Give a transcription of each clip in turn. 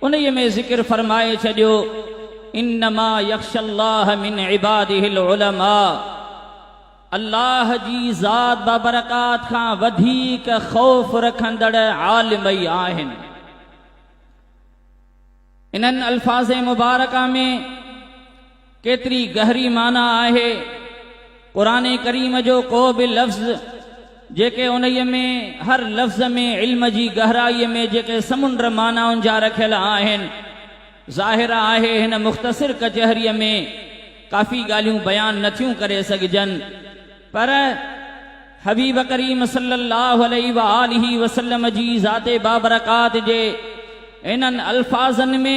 انهيء ۾ ذڪر فرمائي ڇڏيو، انما يخشي الله من عباده العلماء، الله جي ذات بابرڪات کان وڌيڪ خوف رکندڙ عالم ئي آهن. انهن الفاظ مبارڪه ۾ ڪيتري گهري معنيٰ آهي قرآن ڪريم جو ڪو به لفظ جيڪي انهيء ۾ هر لفظ ۾ علم جي گهرائي ۾ جيڪي سمنڊ معنائن جا رکيل آهن ظاهر آهي هن مختصر ڪچهري ۾ ڪافي ڳالهيون بيان نه ٿيون ڪري سگهجن پر حبيب ڪريم صلي الله عليه وآله وسلم جي ذات بابرڪات جي انهن الفاظن ۾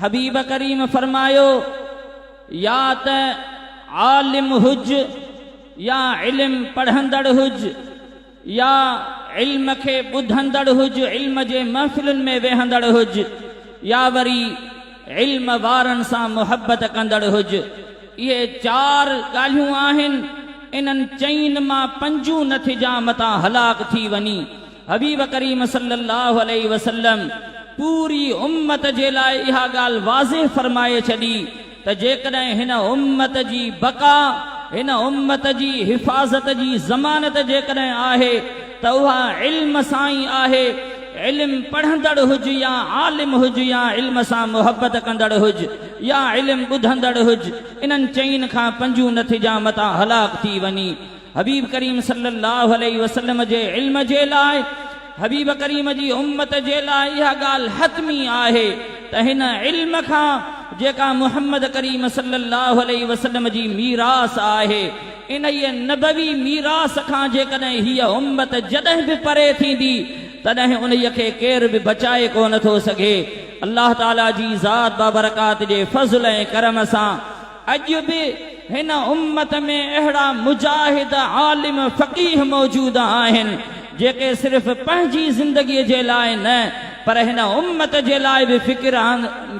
حبيب ڪريم فرمايو، يا ته عالم هج يا علم پڙهندڙ هج يا علم کي ٻڌندڙ هج علم جي محفلن ۾ ويهندڙ هج يا وري علم وارن سان محبت ڪندڙ هج اهي چار ڳالهيون آهن انهن چئين مان پنجون نه ٿجان متان هلاڪ ٿي وڃين. حبيب ڪريم صلي الله عليه وسلم پوري امت جي لاء اها ڳالهه واضح فرمائي ڇڏي ته جيڪڏهن هن امت جي بقا، هن امت جي حفاظت جي ضمانت جيڪڏهن آهي ته اها علم سان ئي آهي، علم پڙهندڙ هج يا عالم هج يا علم سان محبت ڪندڙ هج يا علم ٻڌندڙ هج، انهن چئن کان پنجون نٿجان متان هلاڪ ٿي وڃي. حبيب ڪريم صلّي اللّٰه عليه وسلّم جي علم جي لاء حبيب ڪريم جي امّت جي لاء اها ڳالهه حتمي آهي ته هن علم کان جيڪا محمّد ڪريم صلّي اللّٰه عليه وسلّم جي ميراث آهي انهيء نبوي ميراث کان جيڪڏهن هيء امّت جڏهن به پري ٿيندي تڏهن انهيء کي ڪير به بچائي ڪو نه ٿو سگهي. الله تعالٰي جي ذات بابرڪات جي فضل ۽ ڪرم سان. اڄ به هن امت ۾ اهڙا مجاهد، عالم، فقيه موجود آهن، جيڪي صرف پنهنجي زندگيء جي لاء نه پر هن امت جي لاء به فڪر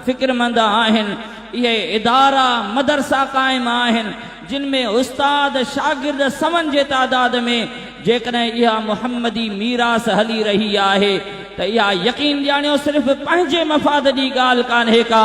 فڪرمند آهن. اهي ادارا، مدرسا قائم آهن، جن ۾ استاد، شاگرد سون جي تعداد ۾، جيڪڏهن اها محمدي ميراث هلي رهي آهي ته اها يقين ڄاڻيو صرف پنهنجي مفاد ڏي ڳالهه ڪانهي ڪا،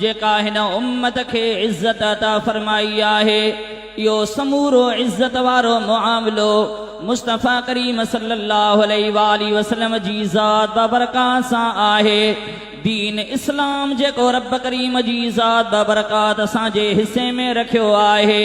جيڪا هن امت کي عزت عطا فرمائي آهي، اهو سمورو عزت وارو معاملو مصطفيٰ ڪريم صلّي اللّٰه عليه واٰله وسلّم جي ذات بابرڪات سان آهي. دين اسلام جيڪو ربّ ڪريم جي ذات بابرڪات اسان جي حصي ۾ رکيو آهي،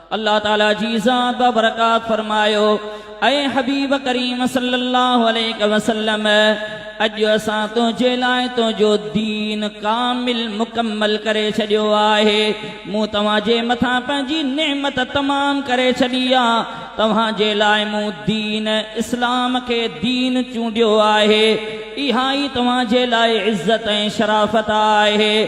الله تعالي جي ذات بابرڪات فرمايو، اي حبيب ڪريم صلّي الله عليه وسلّم! اڄ اسان تنهنجي لاء تنهنجو دين ڪامل، مڪمل، ڪري ڇڏيو آهي. مون توهان جي مٿان پنهنجي نعمت تمام ڪري ڇڏي آ. توهان جي لاء مون دين، اسلام، کي دين چونڊيو آهي. اها ئي توهان جي لاء عزت ۽ شرافت آهي.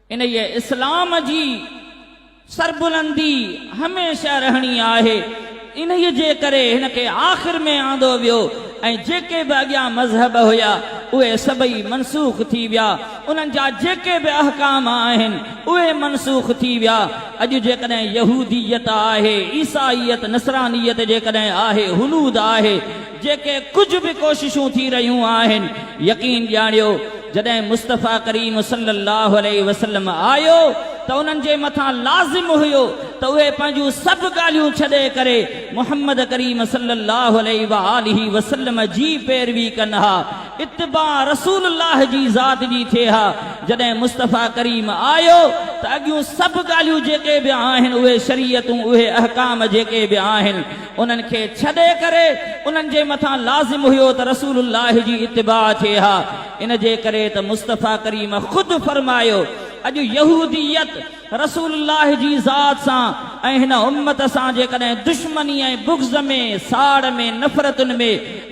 انهيء اسلام جي سربلندي هميشه رهڻي آهي، انهيء جي ڪري هن کي آخر ۾ آندو ويو ۽ جيڪي به اڳيان مذهب هيا، اهي سڀئي منسوخ ٿي ويا، انهن جا جيڪي به احڪام آهن، اهي منسوخ ٿي ويا. اڄ جيڪڏهن يهوديت آهي، عيسائيت، نصرانيت جيڪڏهن آهي، هنود آهي، جيڪي ڪجهه به ڪوششون ٿي رهيون آهن، يقين ڄاڻيو جڏهن مصطفيٰ ڪريم صلّي اللّٰه عليه وسلّم آيو ته انهن جي مٿان لازم هيو ته اهي پنهنجون سڀ ڳالهيون ڇڏي ڪري محمّد ڪريم صلّي اللّٰه عليه واٰله وسلّم جي پيروي ڪن ها، اتباع رسول الله جي ذات جي ٿئي ها، جڏهن مصطفيٰ ڪريم آيو ته اڳيون سڀ ڳالهيون جيڪي به آهن اهي شريعتون اهي احڪام جيڪي به آهن، انهن کي ڇڏي ڪري انهن جي مٿان لازم هيو ته رسول الله جي اتباع ٿئي ها، ان جي ڪري ته مصطفيٰ ڪريم خود فرمايو، اڄ يهوديت رسول الله جي ذات سان ۽ هن امت سان جيڪڏهن دشمني ۽ بغض ۾ ساڙ ۾ نفرتن ۾.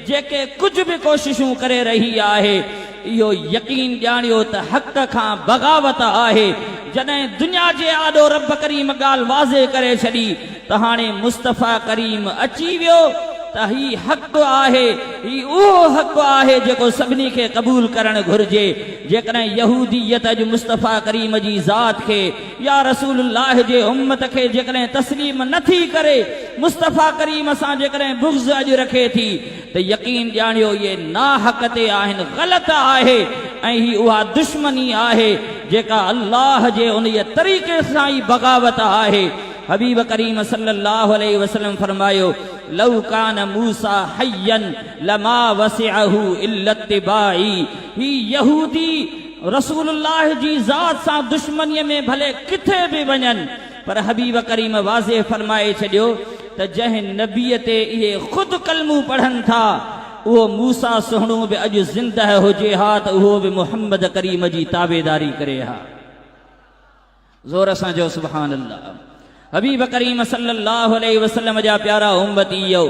جيڪي ڪجهه به ڪوششون ڪري رهي آهي اهو يقين ڄاڻيو ته حق کان بغاوت آهي جڏهن دنيا جي آڏو رب ڪريم ڳالهه واضح ڪري ڇڏي ته هاڻي مصطفيٰ ڪريم اچي ويو ته هي حق آهي هي اهو حق آهي جيڪو سڀني کي قبول ڪرڻ گهرجي جيڪڏهن يهوديت اڄ مصطفيٰ ڪريم جي ذات کي يا رسول الله جي امت کي جيڪڏهن تسليم نه ٿي ڪري مصطفيٰ ڪريم سان جيڪڏهن بغض اڄ رکي ٿي ته يقين ڄاڻيو اهي ناحق تي آهن غلط آهي ۽ هي اها دشمني آهي جيڪا الله جي انهيء طريقي سان ئي بغاوت آهي حبيب ڪريم صلّي الله عليه وسلّم فرمايو لو ڪان موسٰي حيًّا لما وسعه الا اتباعي هي يهودي رسول الله جي ذات سان دشمنيء ۾ ڀلي ڪٿي به وڃن پر حبيب ڪريم واضح فرمائي ڇڏيو ته جنهن نبيء تي اهي خود ڪلمون پڙهن ٿا اهو موسيٰ سهڻو به اڄ زندهه هجي ها ته اهو به محمد ڪريم جي تابعداري ڪري ها. زور سان چئو سبحان الله حبيب ڪريم صلي الله عليه وسلم جا پيارا امتيو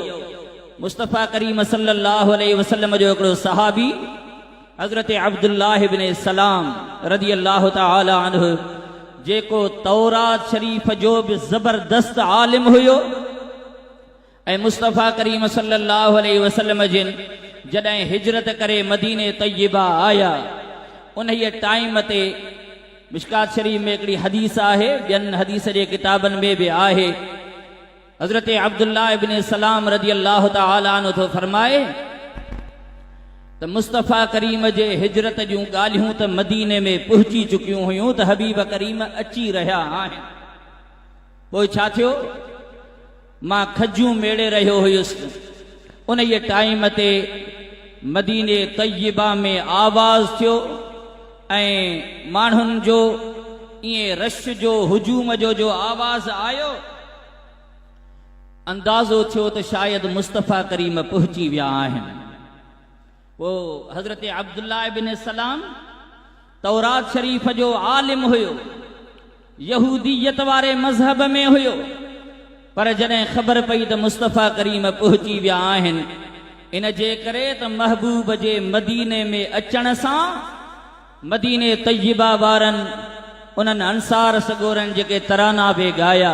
مصطفي ڪريم صلي الله عليه وسلم جو هڪڙو صحابي حضرت عبد الله بن سلام رضي الله تعالى عنه جيڪو تورات شريف جو به زبردست عالم هيو ۽ مصطفيٰ ڪريم صلّي اللّٰه عليه وسلّم جن جڏهن هجرت ڪري مديني طيّبه آيا انهيء ٽائيم تي مشڪات شريف ۾ هڪڙي حديث آهي ٻين حديث جي ڪتابن ۾ به آهي حضرت عبدالله ابن سلّام رضي اللّٰه تعالٰي عنه ٿو فرمائي ته مصطفيٰ ڪريم جي هجرت جون ڳالهيون ته مديني ۾ پهچي چڪيون هيون ته حبيب ڪريم اچي رهيا آهن پوء ڇا ٿيو؟ مان کجيون ميڙي رهيو هيس. انهيء ٽائيم تي مديني طيبه ۾ آواز ٿيو ۽ ماڻهن جو ائين رش جو هجوم جو جو آواز آيو، اندازو ٿيو ته شايد مصطفيٰ ڪريم پهچي ويا آهن. پوء حضرت عبدالله بن سلام. تورات شريف جو عالم هيو، يهوديت واري مذهب ۾ هيو، پر جڏهن خبر پئي ته مصطفيٰ ڪريم پهچي ويا آهن، ان جي ڪري ته محبوب جي مديني ۾ اچڻ سان مديني طيبه وارن انهن انصار سڳورن جيڪي ترانا به ڳايا.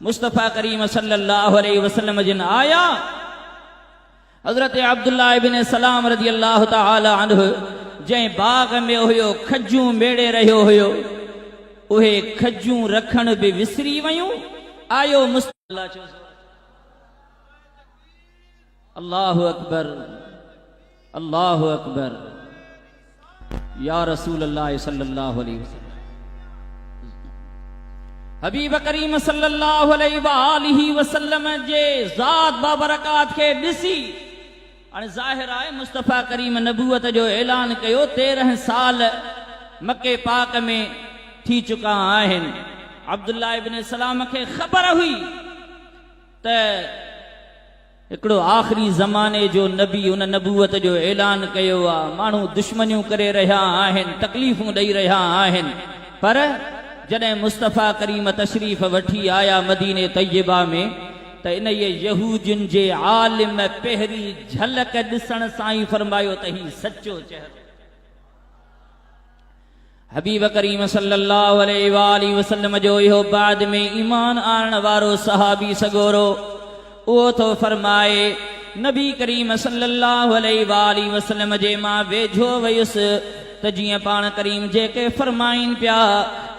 مصطفيٰ ڪريم صلّي اللّٰه عليه وسلّم جن آيا حضرت عبدالله ابن سلّام رضي اللّٰه تعالٰي عنه جنهن باغ ۾ هيو کجون ميڙي رهيو هيو اهي کجون رکڻ به وسري ويون آيو مصطفيٰ الله اڪبر الله اڪبر يا رسول الله صلي الله عليه وسلم حبيب ڪريم صلي الله عليه واله وسلم جي ذات بابرڪات کي ڏسي هاڻي ظاهر آهي مصطفيٰ ڪريم نبوت جو اعلان ڪيو تيرهن سال مڪي پاڪ ۾ ٿي چڪا آهن عبدالله ابن سلام کي خبر هئي ته هڪڙو آخري زماني جو نبي ان نبوت جو اعلان ڪيو آ، ماڻهو دشمنيون ڪري رهيا آهن، تڪليفون ڏئي رهيا آهن، پر جڏهن مصطفيٰ ڪريم تشريف وٺي آيا مديني طيبه ۾ ته انهيء يهودين جي عالم پهرين جهلڪ ڏسڻ سان ئي فرمايو ته هي سچو چهرو آهي. حبيب ڪريم صلّي اللّٰه عليه واٰله وسلّم جو اهو بعد ۾ ايمان آڻڻ وارو صحابي سڳورو اهو ٿو فرمائي، نبي ڪريم صلّي اللّٰه عليه واٰله وسلّم جي مان ويجهو ويس ته جيئن پاڻ ڪريم جيڪي فرمائين پيا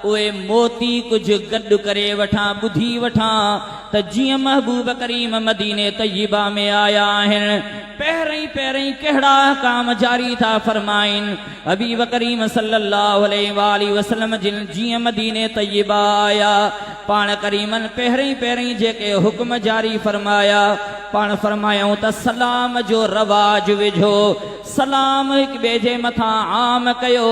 اهي موتي ڪجهه گڏ ڪري وٺان ٻڌي وٺان ته جيئن محبوب ڪريم مديني طيبه ۾ آيا آهن پهرئين پهرئين ڪهڙا احڪام جاري ٿا فرمائين. حبيب ڪريم صلّي اللّٰه عليه واٰله وسلّم جن جيئن مديني طيّبه آيا پاڻ ڪريمن پهرئين پهرئين جيڪي حڪم جاري فرمايا پاڻ فرمايائون ته سلام جو رواج وجهو سلام هڪ ٻئي جي مٿان عام ڪيو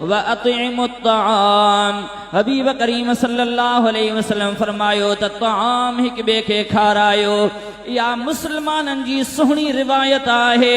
واطعموا الطعام حبيب ڪريم صلّي اللّٰه عليه وسلّم فرمايو ته طعام هڪ ٻئي کي کارايو اها مسلمانن جي سهڻي روايت آهي.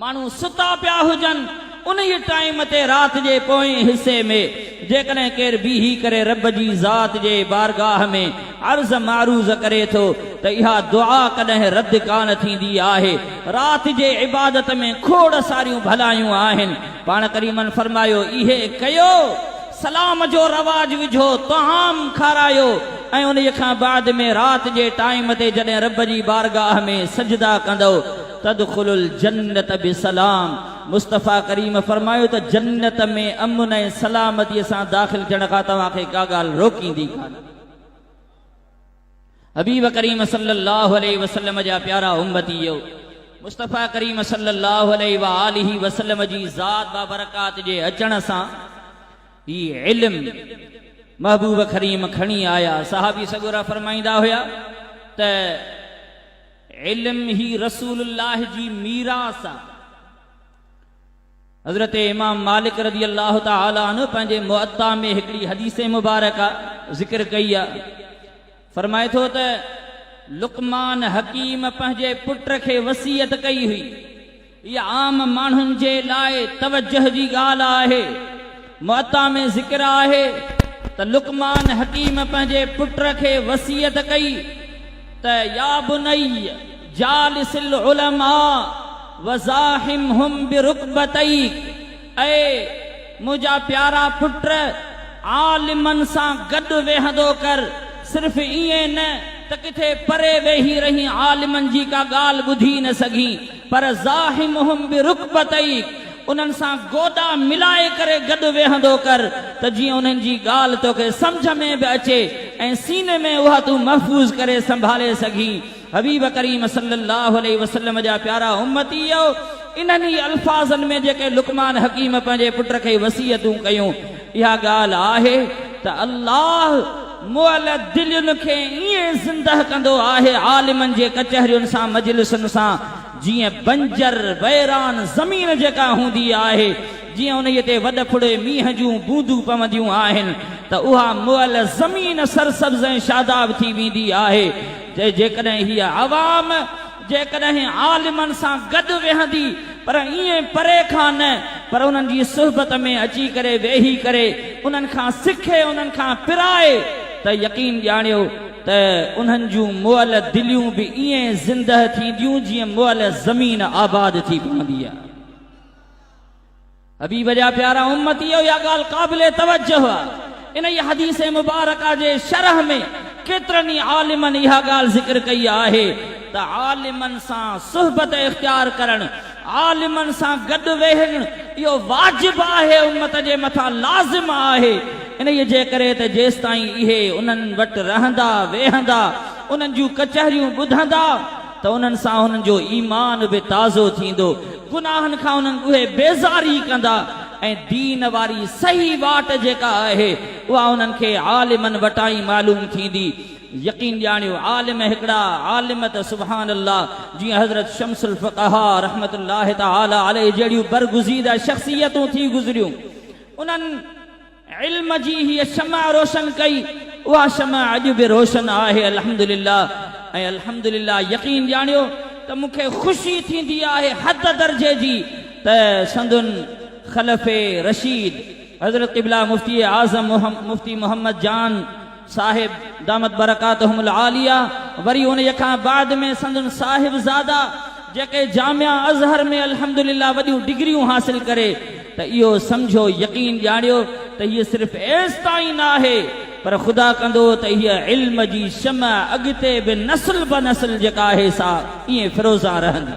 ماڻهو ستا پيا هجن، انهيء ٽائيم تي رات جي پوئين حصي ۾، جيڪڏهن ڪير بيهي ڪري رب جي ذات جي بارگاهه ۾ عرض معروض ڪري ٿو ته اها دعا ڪڏهن رد ڪانه ٿيندي آهي. رات جي عبادت ۾ کوڙ ساريون ڀلايون آهن. پاڻ ڪريمن فرمايو، اهي ڪيو، سلام جو رواج وجهو، طعام کارايو ۽ انهيء کان بعد ۾ رات جي ٽائيم تي جڏهن رب جي بارگاهه ۾ سجدا ڪندؤ تدخل الجنت بسلام، مصطفيٰ ڪريم فرمايو ته جنت ۾ امن ۽ سلامتيء سان داخل ٿيڻ کان توهان کي ڪا ڳالهه روڪيندي ڪانه. حبيب ڪريم صلّي اللّٰه عليه وسلّم جا پيارا امّتيؤ! مصطفيٰ ڪريم صلّي اللّٰه عليه واٰله وسلّم جي ذات بابرڪات جي اچڻ سان هي علم محبوب ڪريم کڻي آيا. صحابي سڳورا فرمائيندا هيا ته. علم هي رسول الله جي ميراث آ. حضرت امام مالڪ رضي الله تعالٰي عنه پنهنجي مؤطا ۾ هڪڙي حديث مبارڪه ذڪر ڪئي آ. فرمائي ٿو ته لقمان حڪيم پنهنجي پٽ کي وصيت ڪئي هئي. هيء عام ماڻهن جي لاء توجهه جي ڳالهه آهي. معطا ۾ ذڪر آهي ته لقمان حڪيم پنهنجي پٽ کي وصيت ڪئي ته يا بني جالس العلماء وزاحمهم برڪبتيك اي منهنجا پيارا پٽ عالمن سان گڏ ويهندو ڪر، صرف ائين نه ته ڪٿي پري ويهي رهين عالمن جي ڪا ڳالهه ٻڌي نه سگهين. پر زاحمهم برڪبتيڪ، انهن سان گوڏا ملائي ڪري گڏ ويهندو ڪر ته جيئن انهن جي ڳالهه توکي سمجهه ۾ به اچي ۽ سيني ۾ اها تون محفوظ ڪري سنڀالي سگهين. حبيب ڪريم صلّي اللّٰه عليه وسلّم جا پيارا امّتيّو! انهن ئي الفاظن ۾ جيڪي لقمان حڪيم پنهنجي پٽ کي وصيتون ڪيون، اها ڳالهه آهي ته الله مئل دلين کي ائين زندهه ڪندو آهي عالمن جي ڪچهرين سان مجلسن سان جيئن بنجر ويران زمين جيڪا هوندي آهي جيئن انهيء تي وڏ ڦڙي مينهن جون بوندون پونديون آهن ته اها مئل زمين سرسبز ۽ شاداب ٿي ويندي آهي جيڪڏهن هيء عوام جيڪڏهن عالمن سان گڏ ويهندي پر ائين پري کان نه پر انهن جي صحبت ۾ اچي ڪري ويهي ڪري انهن کان سکي انهن کان پرائي ته يقين ڄاڻيو ته انهن جون مئل دليون به ائين زندهه ٿينديون جيئن مئل زمين آباد ٿي پوندي آهي. حبيب جا پيارا امتيو اها ڳالهه قابل توجه آهي انهيء حديث مبارڪه جي شرح ۾ ڪيترن ئي عالمن اها ڳالهه ذڪر ڪئي آهي ته عالمن سان صحبت اختيار ڪرڻ عالمن سان گڏ ويهڻ اهو واجب آهي امت جي مٿان لازم آهي انهيء جي ڪري ته جيستائين اهي انهن وٽ رهندا ويهندا انهن جون ڪچهريون ٻڌندا ته انهن سان انهن جو ايمان به تازو ٿيندو، گناهن کان انهن اهي بيزاري ڪندا ۽ دين واري صحيح واٽ جيڪا آهي اها انهن کي عالمن وٽان ئي معلوم ٿيندي. يقين ڄاڻيو عالم هڪڙا عالم ته سبحان الله جيئن حضرت شمس الفقهاء رحمة الله تعالٰي عليه جهڙيون برگزيده شخصيتون ٿي گذريون انهن علم جي هيء شمع روشن ڪئي، اها شمع اڄ به روشن آهي الحمدلله ۽ الحمدلله يقين ڄاڻيو ته مون کي خوشي ٿيندي آهي حد درجي جي ته سندن خلفي رشيد حضرت قبله مفتي اعظم مفتي محمد جان صاحب دامت برڪاتهم العاليه وري انهيء کان بعد ۾ سندن صاحبزادا جيڪي جامع اظهر ۾ الحمدلله وڏيون ڊگريون حاصل ڪري ته اهو سمجهو يقين ڄاڻيو ته هيء صرف ايستائين نه آهي پر خدا ڪندو ته هيء علم جي شمع اڳتي به نسل به نسل جيڪا آهي سا ائين فروزان رهندي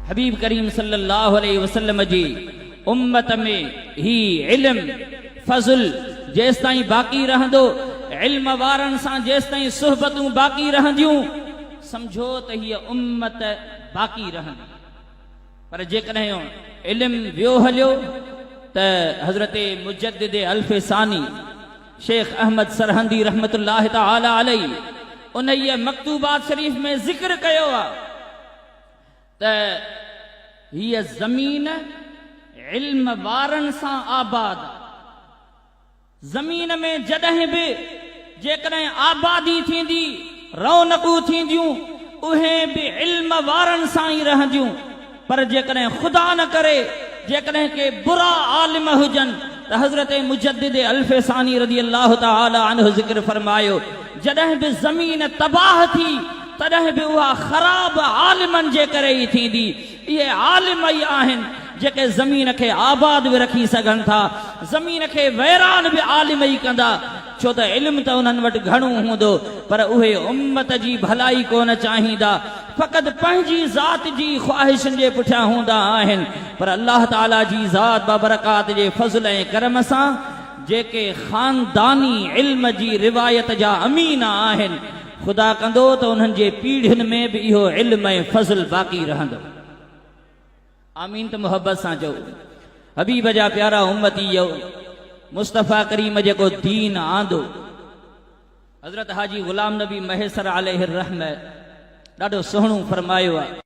حبيب ڪريم صلي الله عليه وسلم جي امت ۾ هي علم، فضل، جيستائين باقي رهندو، علم وارن سان جيستائين صحبتون باقي رهنديون، سمجهو ته هيء امت باقي رهندي. پر جيڪڏهن علم ويو هليو ته حضرت مجدد الف ثاني شيخ احمد سرهندي رحمة الله تعالٰي عليه انهيء مڪتوبات شريف ۾ ذڪر ڪيو آهي. ته هيء زمين علم وارن سان آباد آ. زمين ۾ جڏهن به جيڪڏهن آبادي ٿيندي، رونقون ٿينديون، اهي به علم وارن سان ئي رهنديون، پر جيڪڏهن خدا نه ڪري جيڪڏهن ڪي برا عالم هجن ته حضرت مجدد الف ثاني رضي الله تعالٰي عنه ذڪر فرمايو، جڏهن به زمين تباهه ٿي، تڏهن به اها خراب عالمن جي ڪري ئي ٿيندي. اهي عالم ئي آهن جيڪي زمين کي آباد به رکي سگهن ٿا. زمين کي ويران به عالم ئي ڪندا. ڇو ته علم ته انهن وٽ گهڻو هوندو پر اهي امت جي ڀلائي ڪونه چاهيندا. فقط پنهنجي ذات جي خواهشن جي پٺيان هوندا آهن. پر الله تعاليٰ جي ذات بابرڪات جي فضل ۽ ڪرم سان جيڪي خانداني علم جي روايت جا امين آهن. خدا ڪندو ته انهن جي پيڙهين ۾ به اهو علم ۽ فضل باقي رهندو. آمين ته محبت سان چئو حبيب جا پيارا امتي يو مصطفي ڪريم جيڪو دين آندو حضرت حاجي غلام نبي مهيسر عليه الرحمه ڏاڍو سهڻو فرمايو آ.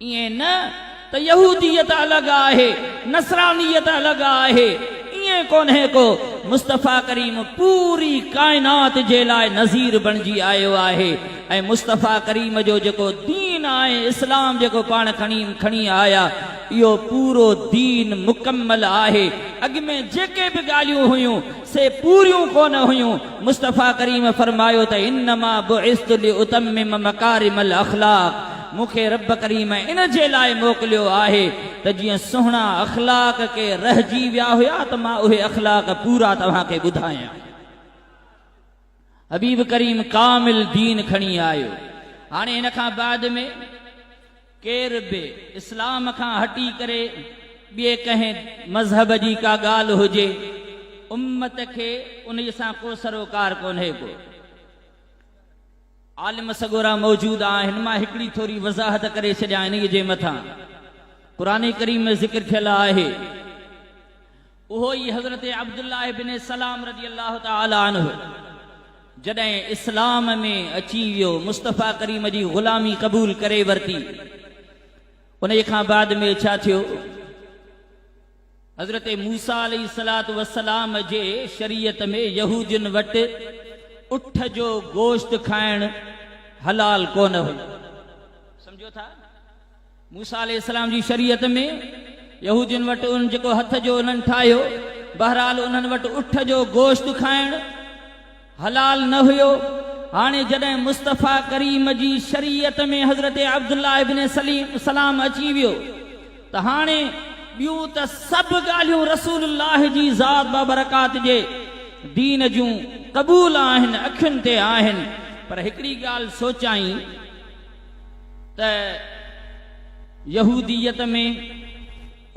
ائين نه ته يهوديت الڳ آهي، نصرانيت الڳ آهي، ائين ڪونهي ڪو، مصطفيٰ ڪريم پوري ڪائنات جي لاء نذير بڻجي آيو آهي ۽ مصطفيٰ ڪريم جو جيڪو دين آهي اسلام جيڪو پاڻ کڻي کڻي آيا اهو پورو دين مڪمل آهي اڳ ۾ جيڪي به ڳالهيون هيون سي پوريون ڪونه هيون، مصطفيٰ ڪريم فرمايو ته انما بعثت لاتمم مڪارم الاخلاق مون کي رب ڪريم ان جي لاء موڪليو آهي ته جيئن سهڻا اخلاق ڪي رهجي ويا هيا ته مان اهي اخلاق پورا توهان کي ٻڌايان. حبيب ڪريم ڪامل دين کڻي آيو هاڻي هن کان بعد ۾ ڪير به اسلام کان هٽي ڪري ٻئي ڪنهن مذهب جي ڪا ڳالهه هجي امت کي انهي سان ڪو سروڪار ڪونهي ڪو عالم سڳورا موجود آهن مان هڪڙي ٿوري وضاحت ڪري ڇڏيان انهي جي مٿان قرآن ڪريم ۾ ذڪر ٿيل آهي اهو ئي حضرت عبدالله بن سلام رضي الله تعالٰي عنه جڏهن اسلام ۾ اچي ويو، مصطفيٰ ڪريم جي غلامي قبول ڪري ورتي، انهي کان بعد ۾ ڇا ٿيو؟ حضرت موسيٰ عليه الصلوة والسلام جي شريعت ۾ يهودين وٽ اٺ جو گوشت کائڻ حلال ڪونه هيو. سمجهو ٿا؟ موسيٰ عليه السلام جي شريعت ۾ يهودين وٽ ان جيڪو هٿ جو انهن ٺاهيو، بهرحال انهن وٽ اٺ جو گوشت کائڻ حلال نه هيو، هاڻي جڏهن مصطفيٰ ڪريم جي شريعت ۾ حضرت عبدالله ابن سلام اچي ويو ته هاڻي ٻيون ته سڀ ڳالهيون رسول الله جي ذات بابرڪات جي دين جون قبول آهن، اکين تي آهن پر هڪڙي ڳالهه سوچائين، ته يهوديت ۾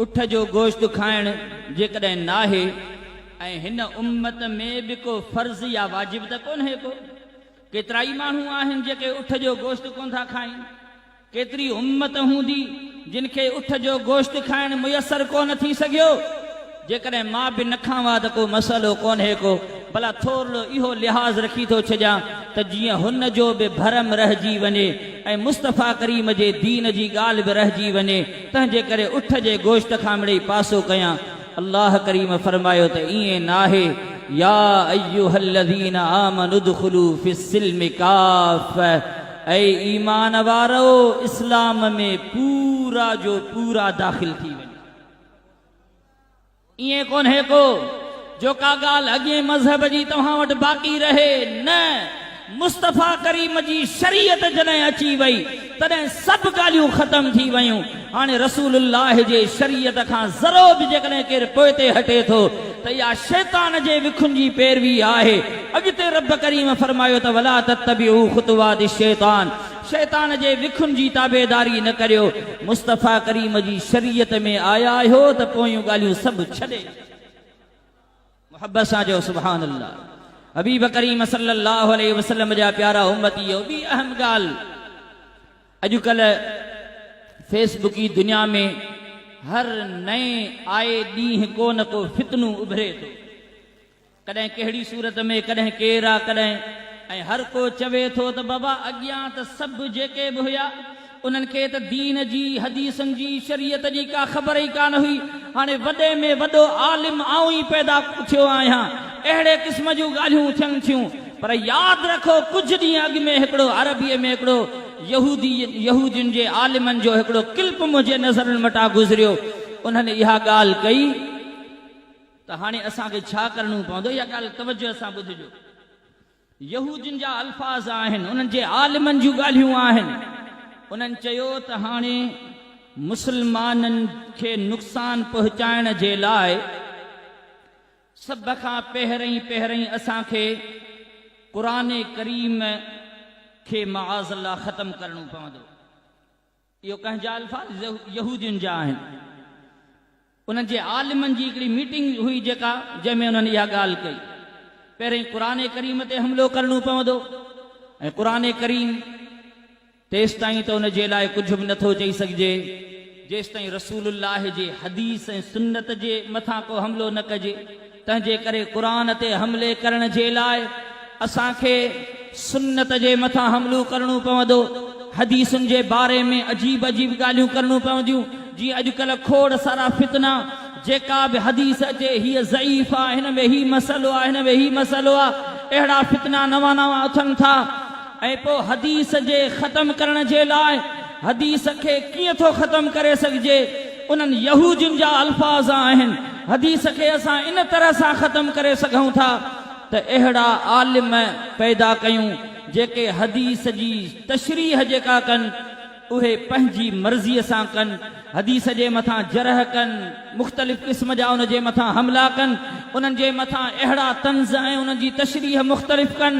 اٺ جو گوشت کائڻ جيڪڏهن ناهي ۽ هن امت ۾ به ڪو فرض يا واجب ته ڪونهي ڪو ڪيترائي ماڻهو آهن جيڪي اٺ جو گوشت ڪونه ٿا کائين ڪيتري امت هوندي جن کي اٺ جو گوشت کائڻ ميسر ڪونه ٿي سگهيو. جيڪڏهن مان به نه کان وا ته ڪو مسئلو ڪونهي ڪو بلا ٿورڙو اهو لحاظ رکي ٿو ڇڏيان ته جيئن هن جو به ڀرم رهجي وڃي ۽ مصطفيٰ ڪريم جي دين جي ڳالهه به رهجي وڃي تنهنجي ڪري اٺ جي گوشت کان مڙئي پاسو ڪيان الله ڪريم فرمايو ته ائين ناهي يا ايها الذين آمنوا ادخلوا في السلم ڪافه اي ايمان وارؤ اسلام ۾ پورا جو پورا داخل ٿي وڃو. ائين ڪونهي ڪو جو ڪا ڳالهه اڳئين مذهب جي توهان وٽ باقي رهي، نه، مصطفيٰ ڪريم جي شريعت جڏهن اچي وئي تڏهن سڀ ڳالهيون ختم ٿي ويون، هاڻي رسول الله جي شريعت کان ذرو به جيڪڏهن ڪير پوئتي هٽي ٿو ته اها شيطان جي وکن جي پيروي آهي، اڳتي رب ڪريم فرمايو ته ولا تتبعوا خطوات الشيطان. شيطان جي وکن جي تابعداري نه ڪريو، مصطفيٰ ڪريم جي شريعت ۾ آيا آهيو ته پويون ڳالهيون سڀ ڇڏي محبت سان چئو سبحان الله حبيب ڪريم صلي الله عليه وسلم جا پيارا امتيو ٻي اهم ڳالهه اڄ ڪلهه فيس بڪي دنيا ۾ هر نئين آئي ڏينهن ڪو نه ڪو فتنو اڀري ٿو. ڪڏهن ڪهڙي صورت ۾ ڪڏهن ڪير آ ڪڏهن ۽ هر ڪو چوي ٿو ته بابا اڳيان ته سڀ جيڪي به هيا انهن کي ته دين جي حديثن جي شريعت جي ڪا خبر ئي ڪانه هئي هاڻي وڏي ۾ وڏو عالم آئون ئي پيدا ٿيو آهيان اهڙي قسم جون ڳالهيون ٿين ٿيون پر ياد رکو ڪجهه ڏينهن اڳ ۾ هڪڙو عربي ۾ هڪڙو يهودي يهودين جي عالمن جو هڪڙو ڪلپ منهنجي نظرن مٽان گذريو انهن اها ڳالهه ڪئي. ته هاڻي اسان کي ڇا ڪرڻو پوندو؟ اها ڳالهه توجه سان ٻڌجو. يهو جن جا الفاظ آهن، انهن جي عالمن جون ڳالهيون آهن. انهن چيو ته هاڻي مسلمانن کي نقصان پهچائڻ جي لاء سڀ کان پهرئين پهرئين اسان کي قرآن ڪريم کي معاذ الله ختم ڪرڻو پوندو. اهي ڪنهن جا الفاظ يهودين جا آهن. انهن جي عالمن جي هڪڙي ميٽنگ هئي جيڪا جنهن ۾ انهن اها ڳالهه ڪئي. پهرئين قرآن ڪريم تي حملو ڪرڻو پوندو ۽ قرآن ڪريم تيستائين ته ان جي لاء ڪجهه به نٿو چئي سگهجي جيستائين رسول الله جي حديث ۽ سنت جي مٿان ڪو حملو نه ڪجي. تنهنجي ڪري قرآن تي حملي ڪرڻ جي لاء اسان کي سنت جي مٿان حملو ڪرڻو پوندو. حديثن جي باري ۾ عجيب عجيب ڳالهيون ڪرڻو پونديون جيئن اڄڪلهه کوڙ سارا فتنا جيڪا به حديث اچي هيء ضعيف آ هن ۾ هي مسئلو آ هن ۾ هي مسئلو آ اهڙا فتنا نوان نوان اٿن ٿا ۽ پوء حديث جي ختم ڪرڻ جي لاء حديث کي ڪيئن ٿو ختم ڪري سگهجي؟ انهن يهودين جا الفاظ آهن، حديث کي اسان ان طرح سان ختم ڪري سگهون ٿا ته اهڙا عالم پيدا ڪيون جيڪي حديث جي تشريح جيڪا ڪن، اهي پنهنجي مرضيء سان ڪن، حديث جي مٿان جرح ڪن، مختلف قسم جا ان جي مٿان حملا ڪن، انهن جي مٿان اهڙا طنز ۽ انهن جي تشريح مختلف ڪن،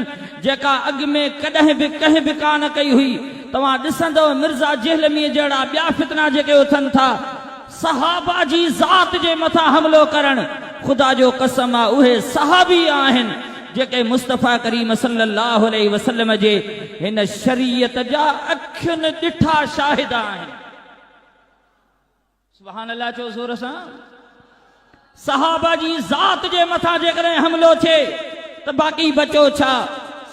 جيڪا اڳ ۾ ڪڏهن به ڪنهن به ڪانه ڪئي هئي. توهان ڏسندؤ مرزا جهلميء جهڙا ٻيا فتنا جيڪي اٿن ٿا، صحابه جي ذات جي مٿان حملو ڪرڻ خدا جو قسم آ اهي صحابي آهن جيڪي مصطفي ڪريم صلي الله عليه وسلم جي هن شريعت جا اکين ڏٺا شاهد آهن سبحان الله چئو زور سان. صحابه جي ذات جي مٿان جيڪڏهن حملو ٿئي ته باقي بچو ڇا؟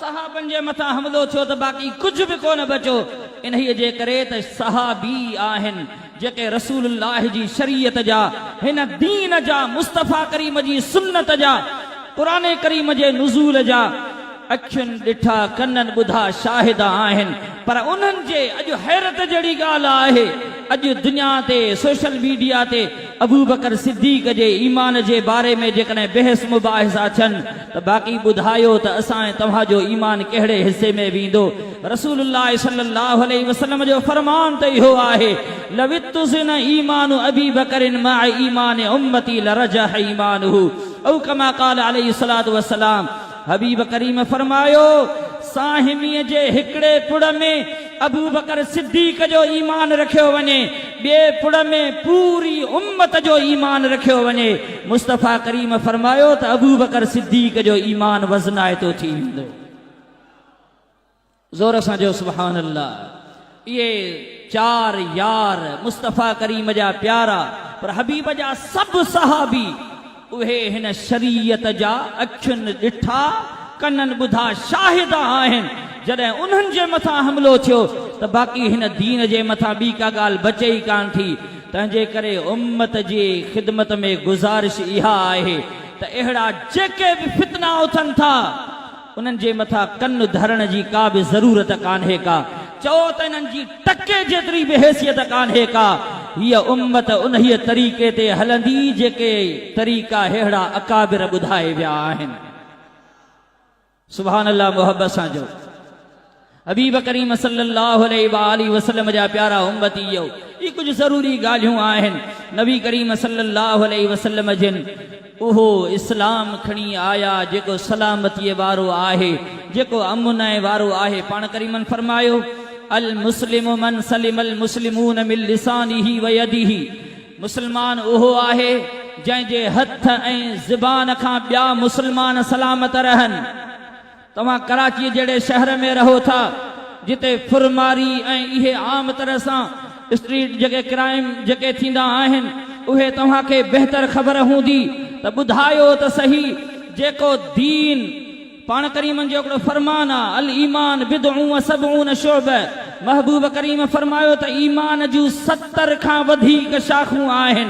صحابن جي مٿان حملو ٿيو ته باقي ڪجهه به ڪونه بچو. انهيء جي ڪري ته صحابي ئي آهن جيڪي رسول الله جي شريعت جا، هن دين جا، مصطفيٰ ڪريم جي سنت جا، قرآن ڪريم جي نزول جا، اکين ڏٺا ڪنن ٻڌا شاهد آهن پر انهن جي اڄ حيرت جهڙي ڳالهه آهي اڄ دنيا تي سوشل ميڊيا تي ابوبڪر صديق جي ايمان جي باري ۾ جيڪڏهن بحث مباحثا ٿين ته باقي ٻڌايو ته اسان ۽ توهان جو ايمان ڪهڙي حصي ۾ ويندو رسول الله صلي الله عليه وسلم جو فرمان ته اهو آهي لو اتزن ايمان ابي بڪر مع ايمان امتي لرجح ايمانه او ڪما قال عليه الصلوة والسلام حبيب ڪريم فرمايو، ساهميء جي هڪڙي پڙ ۾ ابوبڪر صديق جو ايمان رکيو وڃي، ٻئي پڙ ۾ پوري امت جو ايمان رکيو وڃي، مصطفيٰ ڪريم فرمايو ته ابوبڪر صديق جو ايمان وزنائتو ٿي ويندو. زور سان چئو سبحان الله اهي چار يار مصطفيٰ ڪريم جا پيارا پر حبيب جا سڀ صحابي اهي هن شريعت جا اکين ڏٺا ڪنن ٻڌا شاهد آهن جڏهن انهن جي مٿان حملو ٿيو ته باقي هن دين جي مٿان ٻي ڪا ڳالهه بچي ئي ڪانه ٿي تنهنجي ڪري امت جي خدمت ۾ گذارش اها آهي ته اهڙا جيڪي به فتنا اٿن ٿا انهن جي مٿان ڪن ڌرڻ جي ڪا به ضرورت ڪانهي ڪا، چئو ته انهن جي ٽڪي جيتري به حيثيت ڪانهي ڪا، هيء امت انهيء طريقي تي هلندي جيڪي طريقا ههڙا اڪابر ٻڌائي ويا آهن. سبحان الله محبت سان چئو. حبيب ڪريم صلّي اللّٰه عليه واٰله وسلّم جا پيارا امّتيّو! هي ڪجھ ضروري ڳالهيون آهن. نبي ڪريم صلّي اللّٰه عليه وسلّم جن اهو اسلام کڻي آيا جيڪو سلامتيء وارو آهي، جيڪو امن ۽ وارو آهي. پاڻ ڪريمن فرمايو، المسلم من سلم المسلمون من لسانه و يده، مسلمان اهو آهي جنهن جي هٿ ۽ زبان کان ٻيا مسلمان سلامت رهن. توهان ڪراچيء جهڙي شهر ۾ رهو ٿا، جتي ڦر ماري ۽ اهي عام طرح سان اسٽريٽ جڳهه ڪرائيم جيڪي ٿيندا آهن، اهي توهان کي بهتر خبر هوندي ته ٻڌايو ته صحيح جيڪو دين پاڻ ڪريمن جو هڪڙو فرمان آ، الايمان بضع و سبعون شعبه، محبوب ڪريم فرمايو ته ايمان جون ستر کان وڌيڪ شاخون آهن،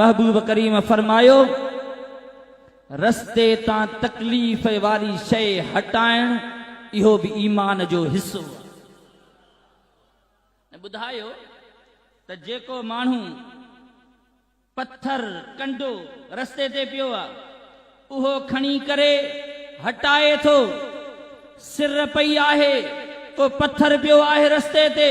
محبوب ڪريم فرمايو، رستي تان تڪليف واري شيء هٽائڻ اهو به ايمان جو حصو آهي. ۽ ٻڌايو ته جيڪو ماڻهو پٿر، ڪنڊو، رستي تي پيو آهي، اهو کڻي ڪري هٽائي ٿو، سر پئي آهي، ڪو پٿر پيو آهي رستي تي،